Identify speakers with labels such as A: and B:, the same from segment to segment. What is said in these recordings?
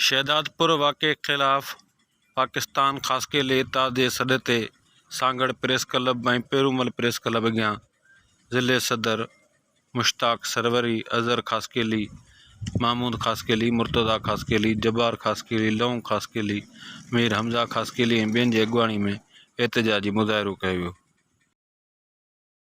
A: شهدادپور واقعي خلاف پاڪستان خاصخيلي اتحاد جي سڏ تي Sanghar press club ۽ Pirumal press club اڳيان ضلعي صدر مشتاق سروري، اظهر خاصخيلي، محمود خاصخيلي، مرتضيٰ خاصخيلي، جبار خاصخيلي، لئون خاصخيلي، مير حمزه خاصخيلي ۽ ٻين جي اڳواڻي ۾ احتجاجي مظاهرو ڪيو ويو.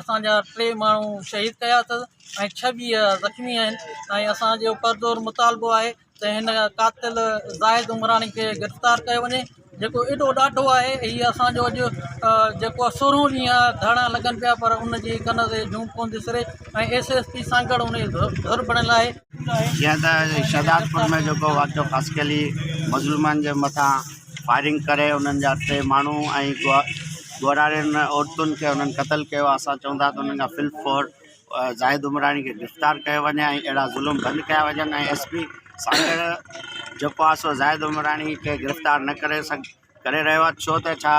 B: اسان جا ٽي ماڻهو شهيد ڪيا اٿس ۽ ڇويهه زخمي آهن ۽ اسان جو پرزور مطالبو آهي ته هن قاتل زاهد عمراڻي کي گرفتار ڪيو وڃي جيڪو ايڏو ڏاڍو آهي هي اسان جو اڄ جيڪو آهي سورهون ڏينهن ڌرڻا لڳن پيا پر ان جي ڪن تي جونء ڪونه ٿي سري ۽ ايس ايس پي سانگهڙ ان جي ڌر بڻيل آهي جيئن ته
C: شهدادپور ۾ جيڪو واقعو خاص ڪلي مظلومن جي مٿان فائرنگ ڪري انهن جا ٽي ماڻهو ۽ ڳوهراڙين عورتن کي انهن قتل ڪيو آهي اسان چون ٿا ته انهن کان فل فور زاهد عمراڻي کي گرفتار ڪيو وڃي ۽ اهڙا ظلم بند ڪيا وڃن ۽ ايس پي سانگهڙ جيڪو آهي سو زاهد عمراڻي کي گرفتار نه ڪري سگ ڪري رهيو آهي ڇو ته ڇا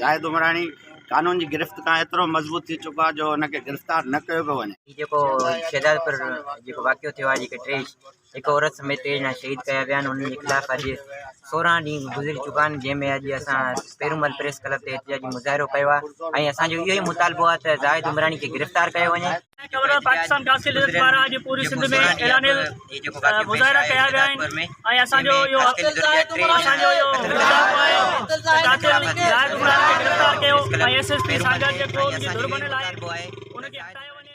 C: زاهد عمراڻي قانون جي گرفت کان ايترو مضبوط ٿي چڪو آهي جو ان کي گرفتار نه ڪيو پيو وڃي هي جيڪو
D: شهدادپور جيڪو واقعو ٿيو آهي جيڪي ٽي هڪ عورت سميت ٽي ڄڻا شهيد ڪيا ويا آهن انهن جي خلاف اڄ سورهن ڏينهن گذري چڪا آهن جنهن ۾ اڄ اسان پيرومل پريس ڪلب تي احتجاجي مظاهرو ڪيو آهي ۽ اسان جو اهو ئي مطالبو آهي ته زاهد عمراڻي کي گرفتار ڪيو وڃي. گورنر پاڪستان قاصد
E: لذت پاران اڄ پوري سنڌ ۾ اعلانيه مظاهرا ڪيا ويا آهن ۽ اسان جو اهو اسان جو اهو مطالبو آهي ته قاتل زاهد عمراڻي کي گرفتار ڪيو ۽ ايس ايس پي سانگهڙ جيڪو ان جي ڌر بڻيل آهي ان کي هٽايو وڃي